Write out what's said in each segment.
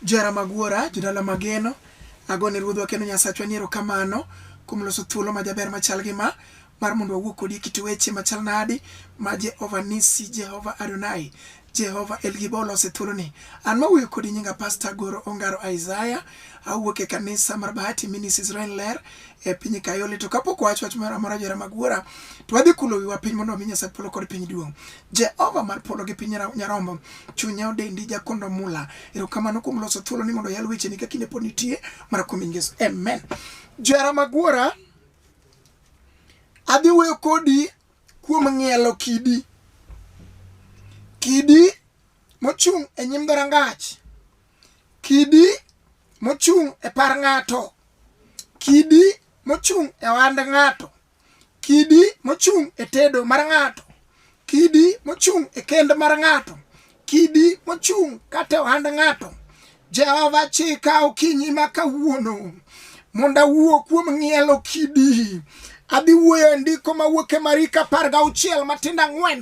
Jara Magwora, Jodala Mageno, agone Ruodhwa kendo Nyasachwa ni erokamano kuom loso thuolo majaber machal gi ma mar mondo wawuo kodi e kit weche machal nadi ma Jehova Nisi, Jehova Adonai, Jehova El Gibo olose thuoloni. An mawuoyo kodi nyinga Pasta Agoro Ongaro Isaiah, awuok e kanisa mar Bahati Ministries Rain Ler e piny Kayole. To kapok wawacho wach moro amora Jara Magwora, to wadhi kulo wiwa piny mondo wami Nyasach Polo kod Piny duong'. Jehova mar polo gi piny nyarombo, chunya odendi jakondo mula. Erokamano kuom loso thuolo ni mondo yal weche ni ka kinde pod nitie mar kuom Yesu. Amen. Jara magwara, adhi wuoyo kodi kuom ng'ielo kidi. Kidi mochung' e nyim dhorangach. Kidi mochung' e par ng'ato. Kidi mochung' e ohand ng'ato. kidi mochung' e tedo mar ng'ato, kidi mochung' e kend mar ng'ato, kidi mochung' kata ohand ng'ato. Jehova chika okinyi ma kawuono mondo awuo kuom ng'ielo kidi. Adhi wuoyo e ndiko mawuok e Mariko apar gauchiel matindo ang'wen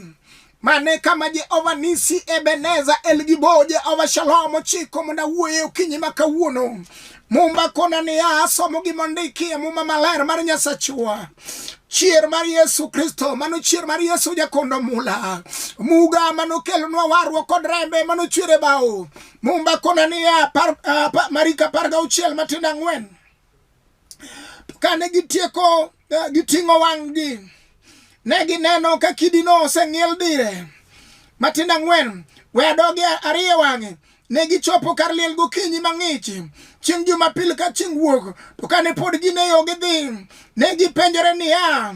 Mane kama Jehova Nisi, Ebeneza, Elgibo, Jehova Shalom chiko mondo awuoye okinyi ma kawuono. Mumba kona niya, asomo gima ondiki e Muma Maler mar Nyasachwa chier mar Yesu Kristo, mano chier mar Yesu jakondo mula muga mano kelonwa warruok kod rembe mano chwere bao mumba kona niya, par, uh, marika par gauchiel matindo ang'wen To kane gitieko eh, giting'o wang'gi, ne gineno ka kidino oseng'iel dire matindo ang'wen we adogi ariyo wang'e ne gichopo kar liel gokinyi mang'ich chieng' jumapil ka chieng' wuok to kane pod gin e yo gidhi ne gipenjore niya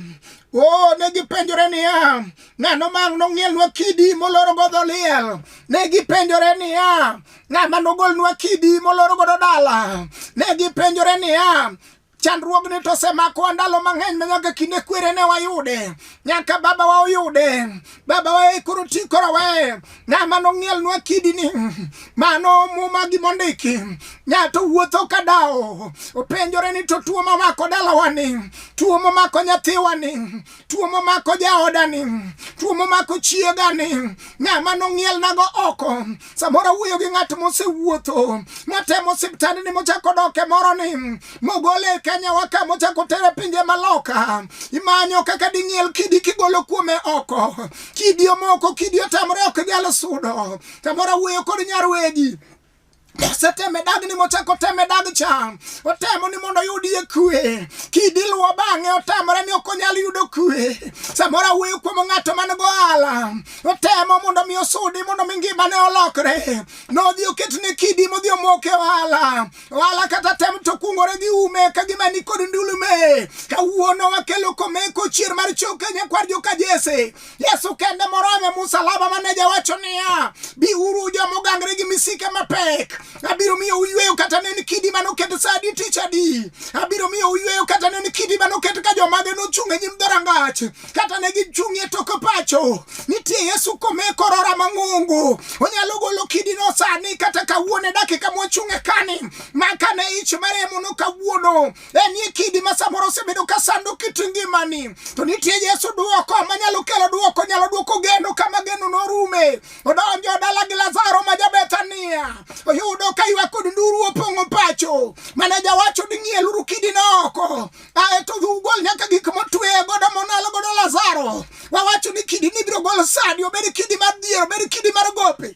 o oh, ne gipenjore niya ng'ano mang' nong'ielnwa kidi moloro godho liel ne gipenjore niya ng'ama nogolnwa kidi moloro godo dala ne gipenjore niya chandruogni to osemakowa ndalo mang'eny ma nyaka kinde kwere ne wayude nyaka babawa oyude babawa e koro ti koro we ng'ama nong'ielnwa kidini mano muma gimondiki nyato wuotho ka dawo openjore ni to tuo mamako dalawani tuo mamako nyathiwani tuo momako jaodani tuo momako chiegani ng'ama nong'ielnago oko samoro wuoyo gi ng'at mosewuotho motemo siptandni mochako doke moro ni mogole e kenyawa ka mochako tere pinje maloka imanyo kaka ding'iel kidi kigolo kuome oko kidi omoko kidi otamre ok nyal sudo samoro wuoyo kod nyarwegi oseteme dagni mochako teme dag cha otemo ni mondo oyudie kwe kidiluwo bang'e otamore ni ok onyal yudo kwe samoro awuoyo kuom ng'ato man go ala otemo mondo mi osudi mondo mi ngimane olokre nodhi oket ne kidi modhi omoke ohala ohala kata tem to kungore gi ume ka gima ni kod ndulume kawuono wakelo komeko chier mar choke nyakwar joka jese Yesu kende morome musalaba mane jawacho niya, biuru jo mogangre gi misike mapek, abiro miyo uyweyo kata ne ni kidi mane oket sa adi tich adi, abiro miyo uyweyo kata ne ni kidi mane oket ka jomage nochung' e nyim dhorangach, kata ne gichung' e tok pacho. Nitie Yesu kome korora mang'ongo, onyalo golo kidino sani kata kawuono e dakika mwachung' e kani, ma kane ich maremo no kawuono En e kidi ma samoro osebedo ka sando kit ngimani, to nitie Yesu duoko manyalo kelo duoko, nyalo duoko geno kama geno norume. Odonjo dala gi Lazaro ma Jabethania, oyudo ka ywak kod nduru opong'o pacho. Maneja wacho ni ng'ieluru kidino oko, ae to dhi ugol nyaka gik motwe godo monalo godo Lazaro. Wawacho ni kidini ibiro gol sani, obed kidi mar dhier, obed kidi mar gope.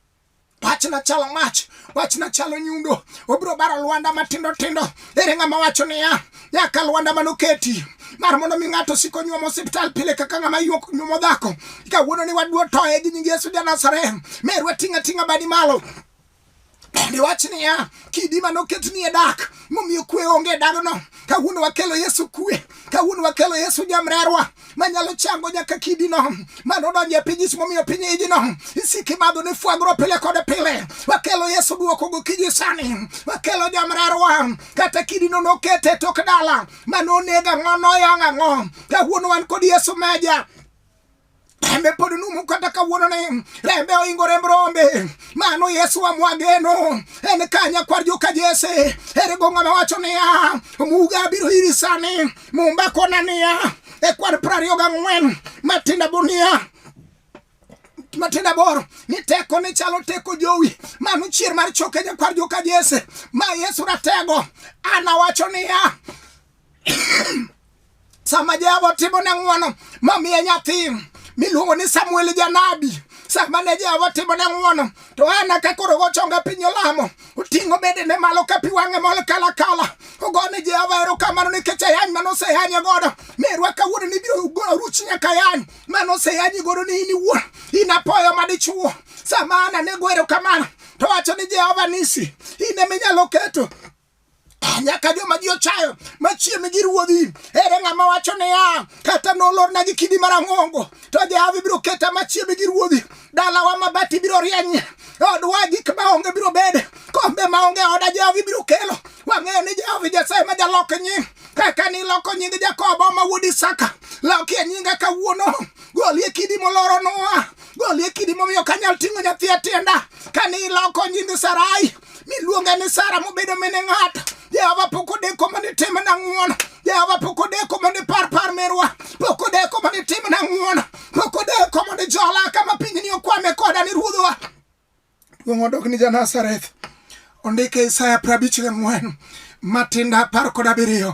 Pachna chalo mach, pachna chalo nyundo, obiro baro lwanda matindo tindo. Ere ng'ama wacho niya, nyaka lwanda manoketi mar mondo mi ng'ato sik onyuomo osiptal pile kaka ng'ama yuok nyuomo dhako. Kawuono ni waduo toye gi nying Yesu ja Nazareth, meru ating'a ating'a badi malo. Bende wach niya, kidi manoket ni e dak, momiyo kwe onge e dagno. Kawuono wakelo Yesu kwe, kawuono wakelo Yesu jamrerwa, manyalo chango nyaka kidino mano odonjo e piny ismomiyo piny ijino isiki madho ni fwagro pile kod pile wakelo yesu duoko gokinyi sani wakelo jamrarwa kata kidino nokete tok dala mano oneg ang'o noyang' ang'o kawuono wan kod yesu meja rembe pod numu kata kawuono ni rembe oingo remb rombe mano yesu amwageno en kanya kwar joka jese erego ng'ama wacho niya omuga abiro iri sani Mumba kona niya e kwan piero ariyo gang'wen matinda boniya matinda boro ni teko ni chalo teko jowi mano chier mar choke jakwar joka jese ma yesu ratego an awacho niya sama jehova otimo ne ng'wono mamiye nyathi miluongo ni samuel janabi sama ne jehova otimo ne ng'wono to ana ka koro gochonga piny olamo oting'o bedene malo ka pi wang'e mol kalakala ogo ni jehova erokamano nikech ayany mane oseyanye godo merwa kawuono ni biro ruchi nyaka yany mane oseyanyi godo ni in iwuon in apoyo madichuo sama an anego erokamano to wacho ni jehova nisi in eminyalo keto nyaka joma ji ochayo machiegni gi ruodhi ere ng'ama wacho niya kata nolorna gi kidi marang'ongo to jahawi biro keta machiegni gi ruodhi dalawa mabati biro rieny odwa gik maonge biro bede kombe maonge oda jahawi biro kelo wang'eyo ni jahawi nyasaye ma jalok nying kaka niloko nying jakobo ma wuod isaka lokie nyinga kawuono golie kidi moloro noa golie kidi momiyo kanyal ting'o nyathi atienda kane iloko nying sarai miluonga ni Sara mobedo mene ng'ato. Jehova pok odeko mondo itimna ng'wono. Jehova pok odeko mondo ipar par merwa. Pok odeko mondo itimna ng'wono. Pok odeko mondo ijola kama pinyni okwame koda ni ruodhwa. Duong' odok ni Janazareth. Ondike Isaya prabich gi ng'wen matinda apar kod abiriyo.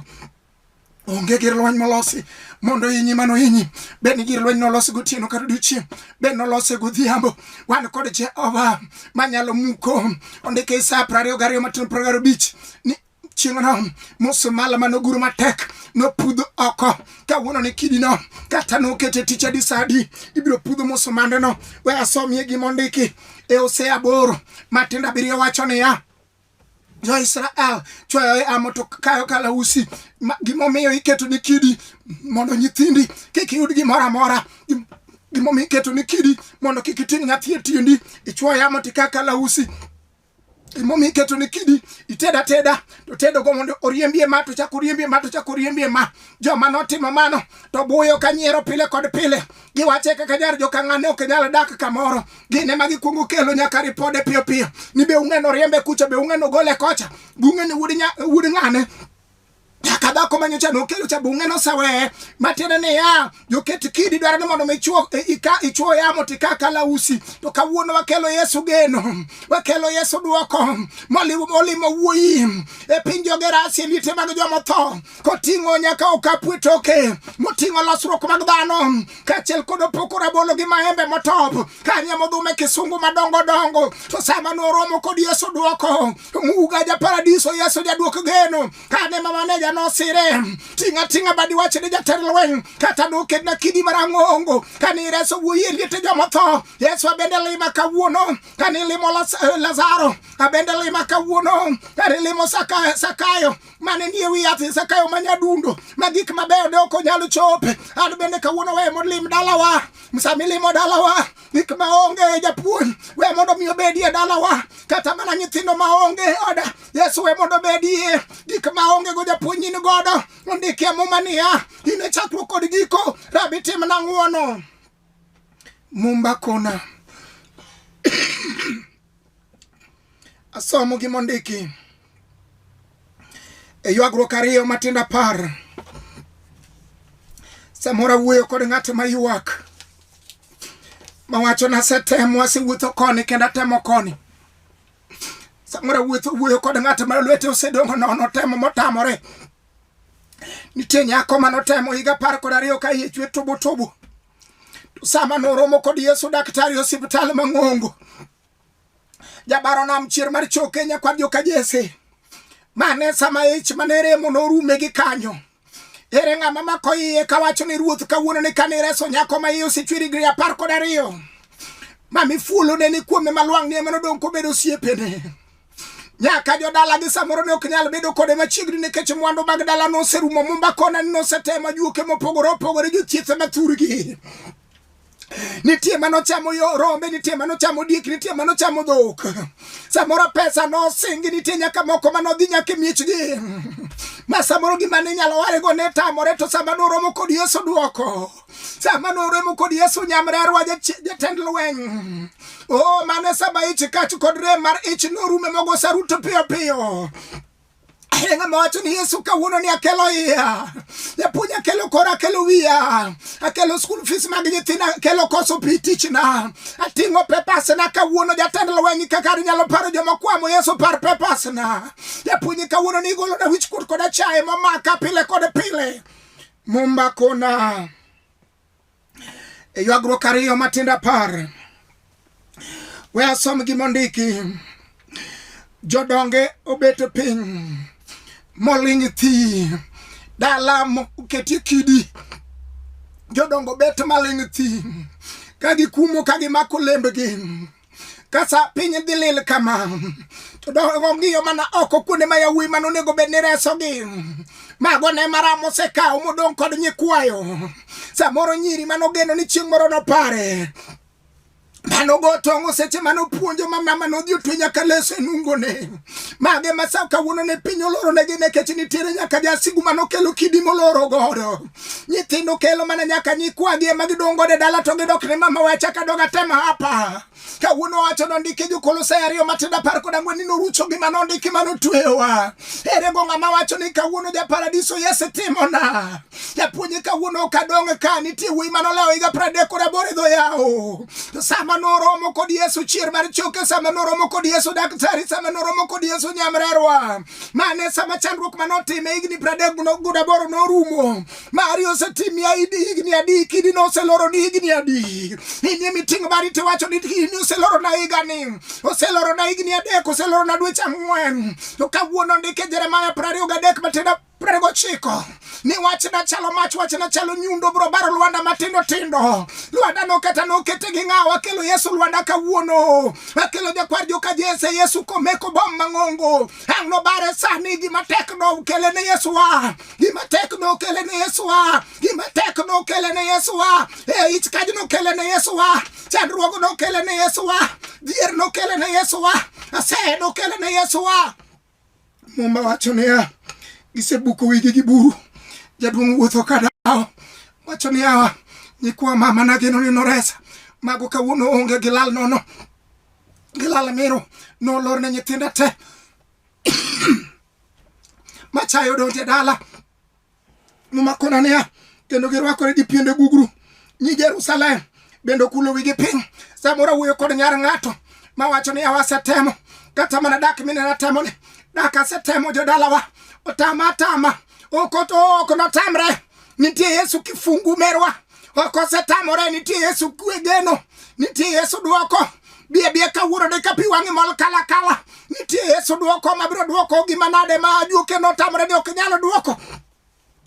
onge gir lweny molosi mondo inyi mano inyi bed ni gir lweny nolosi gotieno kata odiochieng' bed nolose godhiambo wan kod jehova manyalo muko ondike sa prariyo gariyo matin pragaro bich ni chieng'no musumala mane oguro matek nopudh oko kawuono ni kidino kata nokete tich adi sa adi ibiro pudh musumandeno we asomie gima ondiki e ose aboro matindo abiriyo wacho niya jo Israel chwayo e amo to kayo kalausi gimomiyo iketo ni kidi mondo nyithindi kik yud gimoro amora gimomiyo iketo ni kidi mondo kik iting' nyathi e tiendi ichwoyo amo tika kalausi gimomiyo iketo ni kidi ited ateda to tedogo mondo oriembie ma to chak oriembie ma to chak oriembie ma joma notimo mano to buyo ka nyiero pile kod pile giwache kaka jar jokang'ane ok nyal dak kamoro gin ema gikwongo kelo nyaka ripode piyo piyo ni be ung'eno riembe kucha be ung'eno gole kocha be ung'eni wud ng'ane nyaka dhako ma nyocha nokelo cha bunge noseweye matiende niya joket kidi dwaro ni mondo michuo e, ichuo yamo tika kalausi to kawuono wakelo yesu geno wakelo yesu dwoko molimo wuoyi e piny jogerasie liete mag jomotho koting'o nyaka okapu e toke moting'o losruok mag dhano kaachiel kod opoko rabolo gi maembe motop kanye modhume kisungu madongo dongo to sama noromo kod yesu dwoko muga ja paradiso yesu jadwok geno kane ma maneja nosire ting'a ting'a badi wach ni jatend lweny kata nokedna kidi marang'ongo kane ireso wuoyi e liete jomotho yesu abende lima kawuono kane ilimo Las- eh, lazaro abende lima kawuono kane ilimo Saka- sakayo mane nie wi yath Zakayo ma nyadundo ma gik mabeyo ne ok onyal chope. An bende kawuono we mondo lim dalawa, sama ilimo dalawa gik maonge e japuonj we mondo mi obedie dalawa, kata mana nyithindo maonge e oda Yesu we mondo obedie gik maonge go japuonj in godo. Ondikie muma niya, in e chakruok kod giko, Rabi timna ng'wono. Mumba kona. Asomo gi mondiki. E ywagruok ariyo matindo apar. Samora wuoyo kod ng'at ma ywak. Mawacho na setemo asewuotho koni kendo atemo koni. Samora wuotho wuoyo kod ng'at ma lwete osedongo nono temo motamore. Nitie nyako mane otemo higa apar kod ariyo ka iye chwe tubu tubu. To sama noromo kod Yesu daktari e osiptal mang'ongo. Jabaro nam chier mar choke nyakwar joka Jesse. Mane sama ich mane remo norume gi kanyo. Ere ng'ama mako iye kawacho ni ruoth kawuono ni kane ireso nyako ma iye osechwer higni apar kod ariyo. Mami fuolo ne ni kuome malwang' ni ema nodong' kobedo osiepene. nyaka jodalagi samoro ne ok nyal bedo kode machiegni nikech mwandu mag dala noserumo mumba kona ni nosetemo juoke mopogore opogore jothiethe mathurgi nitie mano chamo yo rombe nitie mano chamo diek nitie mano chamo dhok samoro pesa nosingi nitie nyaka moko mano dhi nyaka e miechgi ma samoro gima ne nyalo warego ne tamore to sama noromo kod yesu dwoko sama noremo kod yesu nyamrerwa jatend lweny o mane saba ich kach kod rem mar ich norume mogo saruto piyo piyo Enga mawacho ni Yesu kawuono ni akelo iya. Japuonj akelo kora akelo wiya. Akelo school fees mag nyithinda akelo koso pi tichna. Ating'o papers na kawuono jatend lweny kaka nyalo paro joma kwamo Yesu par papers na. Japuonj kawuono ni igolo na wich kuot koda chaye momaka pile kod pile. Mumba kona e ywagruok ariyo matindo apar we asom gima ondiki jodonge obet piny moling thi dala moketie kidi jodongo bet maling thi ka gikumo ka gimako lembgi kasa piny dhi lil kama to dongiyo mana oko kuonde ma yawuoyi mane onego bed ni resogi mago ne maram osekawo modong' kod nyikwayo samoro nyiri mane ogeno ni chieng' moro nopare manogo tong'o seche mane opuonjo mamama nodhi otwe nyaka leso e nungone Mage ma sa kawuono ne piny oloro ne gine keche nitiere nyaka jasigu mano kelo kidi moloro godo. Nyithindo kelo mana nyaka nyikwagi ema gidongo de dala to gidok ne mama wacha ka doga tema hapa. Kawuono wacho no ndike jo kolose ariyo matenda par koda ngwen nino rucho gi mano ndike mano twewa. Ere go ngama wacho ni kawuono ja paradiso yese timona. Japuonj kawuono ok adong' ka nitie wuoyi mane olewo higa pradek kod aboro e dho yawo. To sama noromo kod Yesu chier mar choke, sama noromo kod Yesu daktari, sama noromo kod Yesu nyamrerwa. Mane sama chandruok mane otime higni pradek kod aboro norumo. Mari osetimi aidi higni adi, kidi noseloro ni higni adi. Inie miting' mari tiwacho ni kidi oseloro na higa ni. Oseloro na higni adek, oseloro na dweche ang'wen. To kawuono ndike Jeremiah prariyo gadek matenda piero gochiko ni wachna chalo mach wachna chalo nyundo bro baro lwanda matindo tindo lwanda noketa nokete gi ng'awa akelo yesu lwanda kawuono akelo jakwar joka jese yesu komeko bom mang'ongo ang' nobare sani gima tek nokele ne yesuwa gima tek nokele ne yesuwa gima tek nokele ne yesuwa e ich kaj nokele ne yesuwa chandruogo nokele ne yesuwa dhier nokele ne yesuwa aseye nokele ne yesuwa Muma wacho niya, gisebuko wigi gi buru, jaduong' wuotho ka dawo. Wacho niya, nyikwa mama nageno ni noresa, mago kawuono onge gilal nono, gilal miro, nolor ne nyithinda te machayo donje dala Momakona niya, kendo girwakore gi piende gugru. Nyi Jerusalem bende okulo wigi piny. Samoro awuoyo kod nyar ng'ato mawacho ni awasetemo kata mana dak mine natemo ni dak asetemo jodalawa otama atama ok ok notamre nitie yesu kifungu merwa ok osetamore nitie yesu kwe geno nitie yesu dwoko bie bie kawuono de ka pi wang'i mol kala kala nitie yesu dwoko mabiro dwoko gima nade ma ajuoke notamore ni ok nyalo dwoko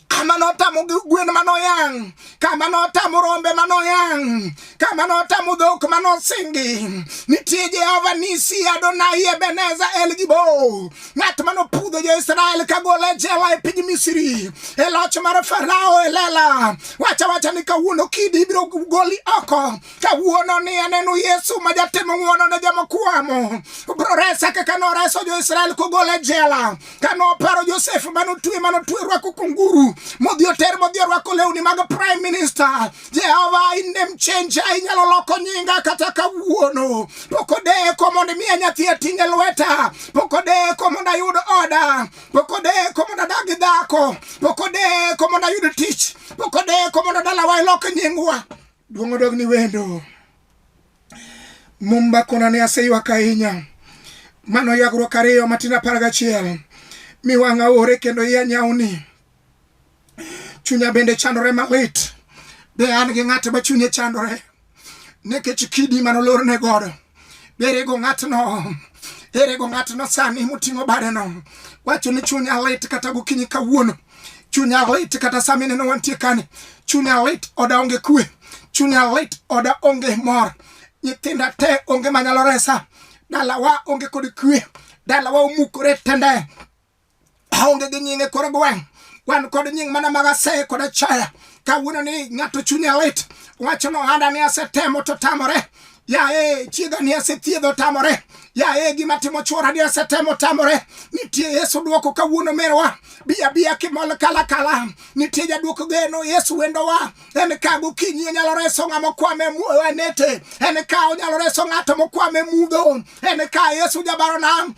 kama notamo gwen manoyang kama notamo rombe manoyang kama notamo dhok manosingi nitie jehova nisi adonai ebeneza el gibo ng'at mane opudho jo-Israel kagolo e jela e piny Misri e loch mar Farao e lela. Wacha wacha ni kawuono kidi ibiro goli oko. Kawuono ni aneno Yesu ma jatimo ng'wono ne joma kwamo. Obiro resa kaka noreso jo-Israel kogolo e jela. Ka noparo Josef mane otwe mane otwe rwako kunguru modhi oter modhi orwako lewni mag prime minister. Jehova in dem chenja inyalo loko nyinga kata kawuono pok odeko mondo imiya nyathi ating' e lweta pok odeko mondo ayud oda pok odeko mondo adag gi dhako pok odeko mondo ayud tich pok odeko mondo dalawa ilok nyingwa duong' odog ni wendo mumba kona ne aseywak ahinya mano yagruok ariyo matin apar gachiel mi wang'a ore kendo iya nyawni chunya bende chandore malit be an gi ng'at ma chunye chandore nikech kidi mane olorne godo be erego ng'atno erego ng'atno sani moting'o badeno wacho ni chunya lit kata gokinyi kawuono chunya lit kata sami neno wantie kani chunya lit oda onge kwe chunya lit oda onge mor nyithinda te onge manyalo resa dalawa onge kod kwe dalawa omukore tende aonge gi nyinge kore gweng' wan kod nying mana mag aseye kod achaya kawuono ni ng'ato chunye lit wacho no handa ni asetemo to tamore yaye chiega ni asethiedho tamore yaye gima timo chwora ni asetemo tamore nitie yesu dwoko kawuono merwa biya biya kimol kala kala nitie jadwoko geno yesu wendowa en ka gokinyi onyalo reso ng'ama okwame wanete en ka onyalo reso ng'ato mokwame mudho en ka yesu jabarona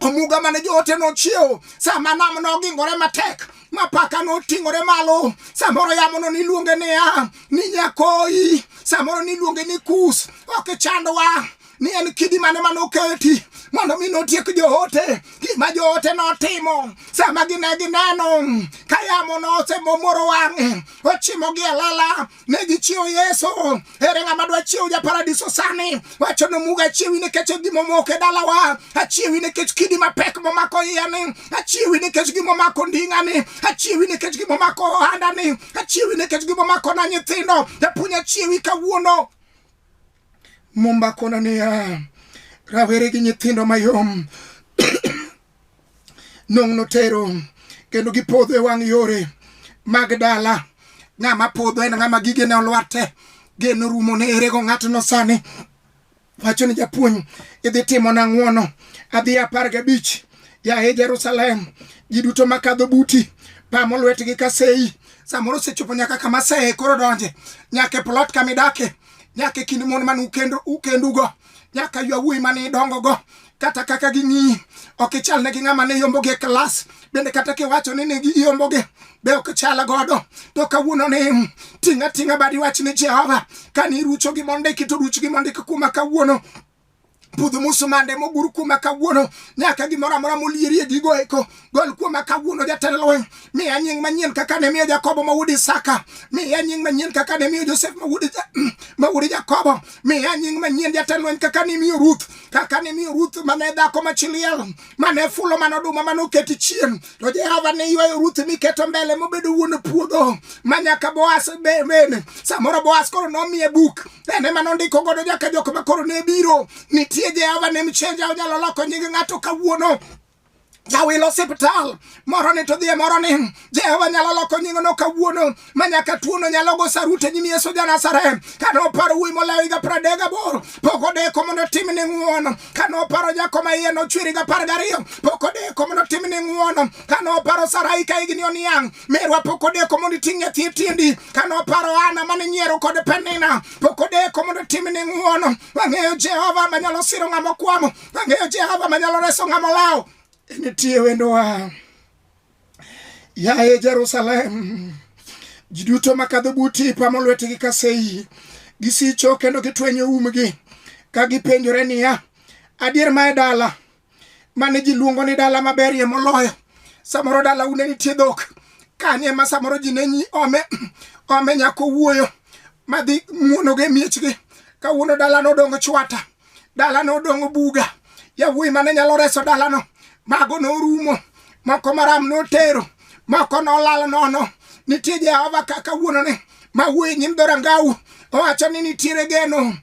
omuga mane joote nochiewo sama nam nogingore matek ma paka noting'ore malo samoro yamono niluonge niya ni nyakoyi samoro niluonge ni kus ok ichandwa ni en kidi mane mane oketi mondo mi notiek joote gima joote notimo sama gine gineno ka yamo nosemomoro wang'e ochimogi e lela ne gichiewo yesu ere ng'ama dwa chiewo japaradiso sani wacho ni muga achiewi nikech gima omoko e dalawa achiewi nikech kidi mapek momako iyani achiewi nikech gima omako nding'ani achiewi nikech gima omako ohandani achiewi nikech gima omako na nyithindo japuonj achiewi kawuono mumba kono niya rawere gi nyithindo mayom nong' notero kendo gipodho e wang' yore mag dala ng'ama podho en ng'ama gigene olwarte geno rumo ne erego ng'atno sani wacho ni japuonj idhi timo na ng'wono adhi apar gabich yaye jerusalem ji duto makadho buti pamo lwetgi ka sei samoro osechopo nyaka kama sei koro donje nyaka e plot kama idake nyaka e kind mon man ukendugo nyaka ywa wuoyi mane idongogo kata kaka ging'iyi ok ichal ne gi ng'ama ne yombogi e klas bende kata kiwacho ni ne giyombogi be ok chal godo to kawuono ni ting' ating'a badi wach ni jehova kane irucho gi mondiki to ruch gi mondiki kuma kawuono budho musumande mogur kuma kawuono nyaka gimoro amora molierie gigo eko Gol kuoma kawuono jatend lweny, miya nying manyien kaka ne miyo Jakobo ma wuod Isaka, miya nying manyien kaka ne miyo Josef ma wuod ma wuod Jakobo, miya nying manyien jatend lweny kaka ne miyo Ruth, kaka ne miyo Ruth mane dhako ma chiliel, mane fulo mano oduma mane oketi chien. To Jehova ne ywayo Ruth mi keto mbele mobedo wuon puodho ma nyaka Boaz be- bene. Samoro Boaz koro nomiye buk, en ema nondiko godo nyaka jok ma koro ne biro. Nitie Jehova ne mchenja onyalo loko nying ng'ato kawuono. jawilo osiptal moro ni to dhie moro ni jehova nyalo loko nying'no kawuono ma nyaka tuono nyalo go sarut e nyim yesu janasarem ka noparo wuoyi molayo higa pradek gaboro pok odeko mondo otim ni ng'uono ka noparo nyako ma iye nochweri ga par gariyo pok odeko mondo otim ni ng'uono ka noparo sarai ka higni oniang' merwa pok odeko mondo iting' nyathi e tiendi ka noparo ana mane nyiero kod penina pok odeko mondo otim ni ng'uono wang'eyo jehova manyalo siro ng'ama okwamo ang'eyo jehova manyalo reso ng'ama olawo nitie wendowa yaye jerusalem ji duto makadho buti ipamo lwetgi ka sei gisicho kendo gitwenyo umgi ka gipenjore niya adier ma e dala mane ji luongo ni dala maberie moloyo samoro dala une nitie dhok kanye ma samoro ji ne nyi ome ome nyako wuoyo madhi muonogo e miechgi kawuono dalano odong chwata dalano odong' buga yawuoyi mane nyalo reso dalano mago norumo moko maram notero moko nolal nono nitie jehova kaka wuonone ma wuoyi nyim dhorangau owacho ni nitiere geno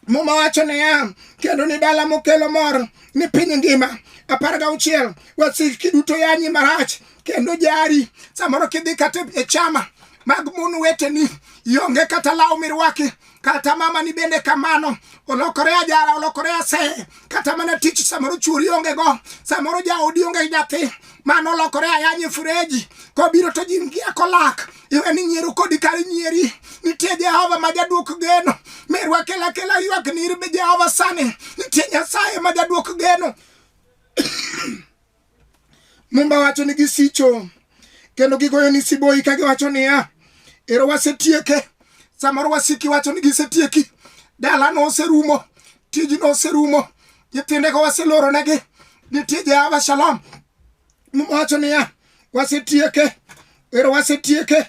muma wacho niya kendo ni dala mokelo mor ni piny ngima apar gauchiel wasiki duto yanyi marach kendo jari samoro kidhi kata e chama mag mon weteni ionge kata law mirwaki kata mama ni bende kamano olokore ajara olokore ase kata mana tich samoro chuori onge go samoro jaodi onge nyathi mano olokore ayanye fureji kobiro to jin gi akolak iwe ni nyiero kodi kar nyieri nitie jehova ma jaduok geno merwa kela kela ywak ni irbe jehova sani nitie nyasaye ma jaduok geno Mumba wacho ni gisicho kendo gigoyo ni siboi ka giwacho niya, ero wasetieke. Samoro wasiki wacho ni gisetieki, dalano oserumo, tijno oserumo, nyithindego waseloronegi, nitie Jehova Shalom. Mumba wacho niya, wasetieke ero wasetieke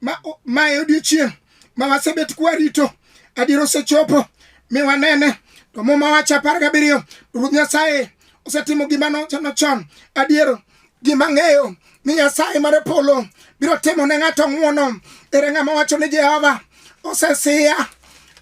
ma, ma e odiochieng' ma wasebet kwarito adier osechopo mi wanene to muma wacho apar gabiriyo ruoth nyasaye osetimo gima nochano chon adier gima ng'eyo ni nyasaye mar polo biro timo ne ng'ato ng'wono ere ng'ama wacho ni jehova osesiya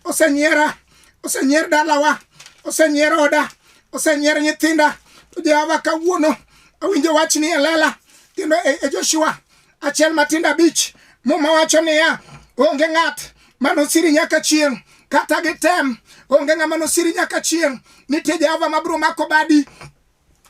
osenyiera osenyier dalawa osenyier oda osenyier nyithinda to jehova kawuono Awinjo wach ni e lela kendo e, e Joshua achiel matindo abich muma wacho niya onge ng'at manosiri nyaka chieng' kata gitem onge ng'ama nosiri nyaka chieng' nitie jehova mabiro mako badi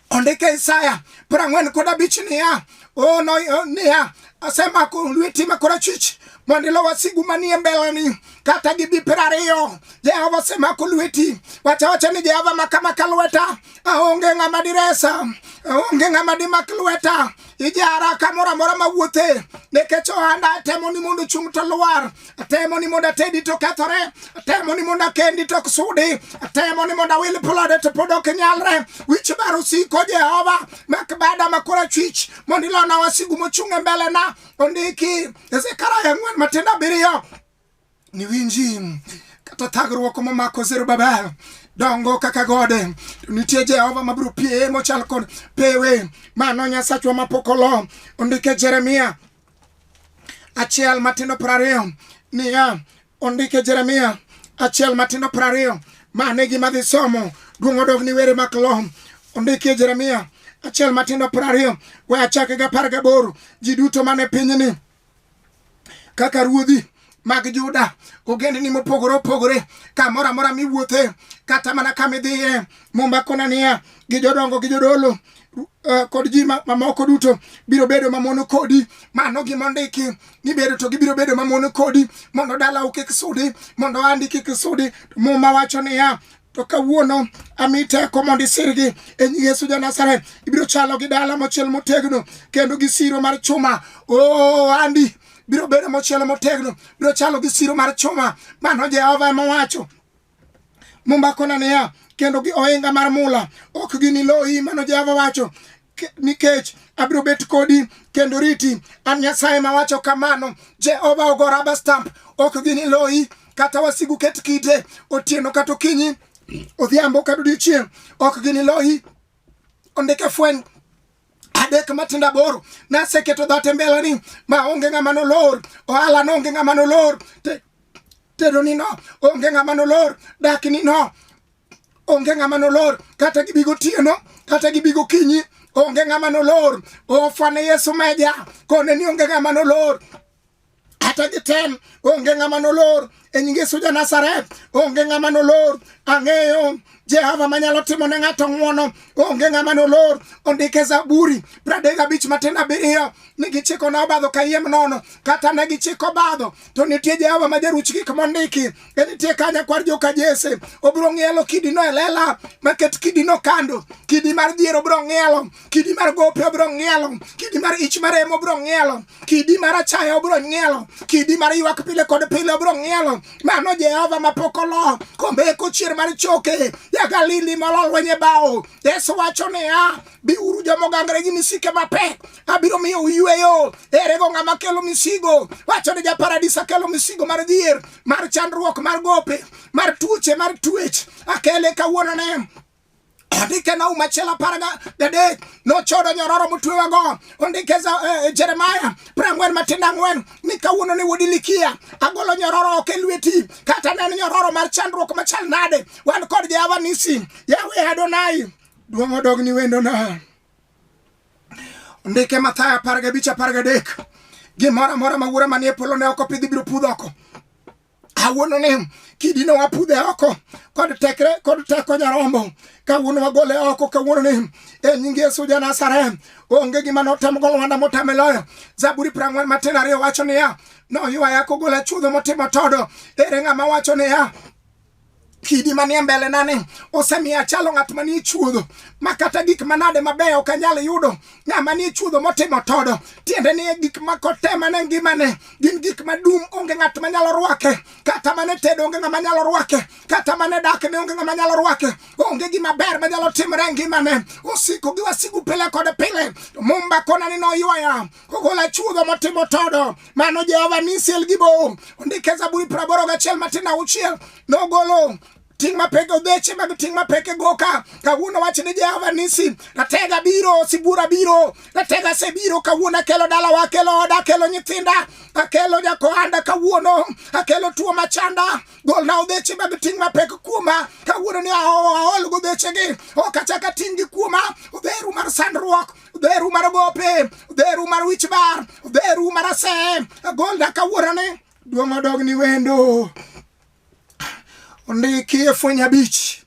ondike isaya piero ang'wen kod abich niya o niya asemako lweti ma korachwich mondo ilo wasigu manie mbeleni kata gibi piero ariyo jehova osemako lweti wachawacha ni jehova makamaka lweta aonge ng'ama diresa onge ng'ama dimak lweta ijara kamoro amora mawuothe nikech ohanda atemo ni mondo chung' to lwar atemo ni mondo atedi to kethore atemo ni mondo akendi to ok sudi atemo ni mondo awil plode to pod ok nyalre wich bar osiko jehova mak bada makora chwich mondo ilona wasigu mochung' e mbelena ondiki e zekaria ang'wen matindo abiriyo niwinji kata thagruok momako zerubabel dongo kaka gode nitie jehova mabiro pie mochal kod pewe mano nyasachwa mapok olo ondike jeremia achiel matindo prariyo niya ondike jeremia achiel matindo prariyo mane gima dhi somo duong' odog ni were mak lo ondike jeremia achiel matindo prariyo we achake gapar gaboro ji duto mane pinyni kaka ruodhi mag Juda, ogendni mopogore opogore, kamoro amora miwuothe, kata mana kama idhiye, Muma kona niya, gi jodongo gi jodolo eh, kod ji mamoko duto biro bedo mamono kodi. Mano gima ondiki ni bedo to gibiro bedo mamono kodi, mondo dalau kik sudi, mondo andi kik sudi. Muma wacho niya, to kawuono ami teko mondo isirgi e nying Yesu ja Nazareth. Ibiro chalo gi dala mochiel motegno kendo gi siro mar chuma. Oh, Andy biro bedo mochiel motegno, biro chalo gi siro mar chuma. Mano Jehova ema owacho. Mumbakona niya, kendo gi ohinga mar mula ok giniloyi, mano Jehova wacho. nikech abiro bet kodi kendo riti. An Nyasaye mawacho kamano. Jehova ogo raba stamp, ok gini loyi kata wasigu ket kite otieno kata okinyi odhiambo kata odiochieng' ok gini loyi. Ondike fweny adek matindo aboro naseketo dhat e mbelani ma onge ng'ama nolor ohala no onge ng'ama nolor tedoni no onge ng'ama nolor dakni no onge ng'ama nolor kata gibi gotieno kata gibi gokinyi onge ng'ama nolor ofwane yesu meja kone ni onge ng'ama nolor kata gitem onge ng'ama nolor e nying yesu ja nasaret onge ng'ama nolor ang'eyo jehova manyalo timo ne ng'ato ng'wono onge ng'ama nolor ondike zaburi pradek abich matin abiriyo ni gichiko na obadho kayiem nono kata ne gichiko obadho to nitie jehova ma jaruch gik mondiki enitie kanya kwar joka jese obiro ng'ielo kidino e lela maket kidino kando kidi mar dhier obiro ng'ielo kidi mar gope obiro ng'ielo kidi mar ich mar emo obiro ng'ielo kidi mar achaya obiro ng'ielo kidi mar ywak pile kod pile obiro ng'ielo mano jehova mapok olo kombe kochier mar choke jagalili mololwenye bao yesu wacho niya biuru jomogangre gi misike mapek abiro miyo uyweyo. Ere go ng'ama kelo misigo? Wacho ni japaradis akelo misigo mar dhier, mar chandruok, mar gope, mar tuoche, mar tuech. Akele kawuono ne andike na uma achiel apar gadek nochodo nyororo motwewago ondike eh, eh, jeremaya prang'wen matindo ang'wen ni kawuono ni wuod ilikia agolo nyororo ok e lweti kata ne en nyororo mar chandruok machal nade wan kod jehova nisi yahwe adonai duong' odogni wendona Ndike Mathayo apar gabich apar gadek gimoro amora ma wuora manie polo ne oko pidhi biro pudh oko awuono ni kidino wapudhe oko kod tekre kod teko nyarombo kawuono wagole oko kawuono ni e nying yesu ja nazareth onge gima notem golo wanda motame loyo zaburi prang'wen matin ariyo wacho niya noywaya kogola chudho motimo todo ere ng'ama wacho niya kidi manie mbele nani osemiyo achalo ng'at manie chuodho ma kata gik manade mabeyo ok anyal yudo ng'ama nie chuodho motimo todo tiende ni gik ma kotema ne ngimane gin gik madum onge ng'at manyalo rwake kata mane tedo onge ng'ama nyalo rwake kata mane dak ne onge ng'ama nyalo rwake onge gima ber manyalo timore e ngimane osiko gi wasigu pile kod pile mumba konani noywaya ogol achuodho motimo todo mano jehova nisiel gi bo ondike zaburi praboro gachiel matindo auchiel nogolo ting' mapek odheche mag ting' mapek e goka kawuono wach ni jehova nisi ratega biro sibura biro ratega sebiro kawuono akelo dalawa akelo oda akelo nyithinda akelo jakohanda kawuono akelo tuo machanda golna odheche mag ting' mapek kuoma kawuono ni aol godhechegi ok achaka ting' gi kuoma odheru mar sandruok dheru mar gope dheru mar wich bar dheru mar ase gonda kawuorane duong' odogni wendo ondiki e fweny abich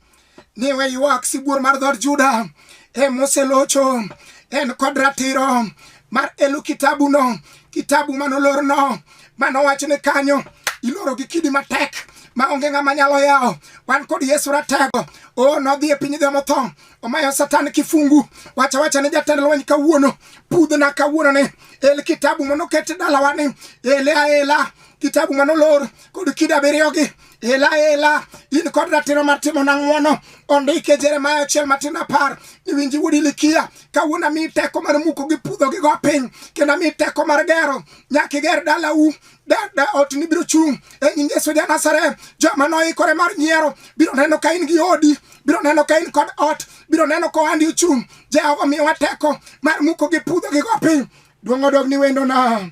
ni we ywak sibuor mar dhod juda e moselocho en kod ratiro mar elu kitabuno kitabu manolorno manowach ni kanyo iloro gi kidi matek ma onge ng'ama nyalo yawo wan kod yesu ratego o nodhi e piny jomotho omayo satan kifungu wacha wacha ne jatend lweny kawuono pudhna kawuono ne el kitabu manoket dalawa ni ele aela kitabu manolor kod kida abiriyogi ela ela in kod ratiro mar timo nang'wono ondike jeremaya achiel matin apar iwinji wuod ilikia kawuono ami teko mar muko gi pudho gi go piny kendo ami teko mar gero nyaka iger dalau da ot ni biro chung' e nying Yesu ja Nazareth. Joma noikore mar nyiero biro neno ka in gi odi, biro neno ka in kod ot, biro neno ka ohandi ochung'. Jehova miyowa teko mar muko gi pudho gi go piny. Duong' odog ni wendona.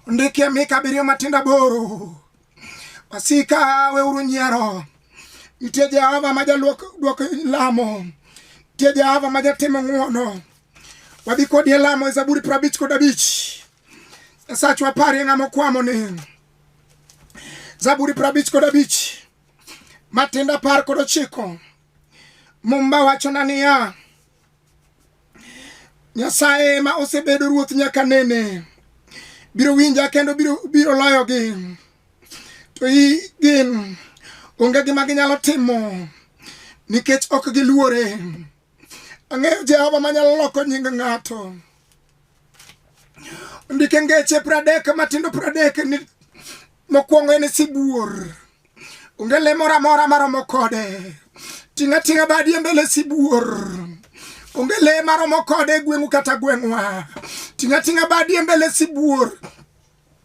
Ndikie Mika abiriyo matindo aboro. Wasika weuru nyiero. Nitie Jehova ma jaluok duoko lamo. Nitie Jehova ma jatimo ng'wono. Wadhi kodi e lamo e Zaburi prabich kod abich. Sachwa pari nga mokwamo ni Zaburi prabich kod abich matinda par kod ochiko Mumba wachona niya Nyasaye ma osebedo ruoth nyaka nene biro winja kendo biro, biro loyogi to i gin onge gima ginyalo timo nikech ok giluore ang'eyo jehova manyalo loko nying ng'ato ndike ngeche pradek matindo pradek ni mokwongo en sibuor onge le moro amora maromo kode ting' ating'a badi e mbele sibuor onge le maromo kode e gweng'u kata gweng'wa ting' ating'a badi e mbele sibuor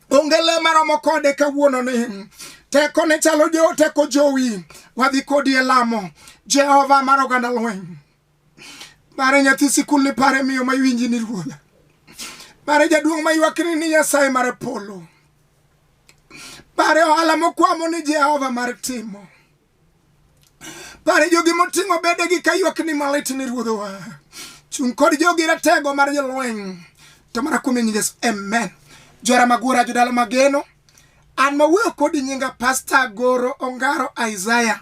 onge le maromo kode kawuononi teko ne chalo jo teko jowi wadhi kodi e lamo jehova mar oganda lweny Mare nyathi sikul ni pare miyo ma iwinji ni ruodha. Mare jaduong' ma ywakni ni Nyasaye mare polo. Pare ohala mokwamo ni Jehova mar timo. Pare jogi moting'o bedegi ka ywak ni malit ni ruodhowa. Chung' kod jogi ratego mar jolweny. To mana kuom nying Yesu. Amen. Jora magura jodala mageno. An mawuoyo kodi nyinga Pastor Goro Ongaro Isaiah.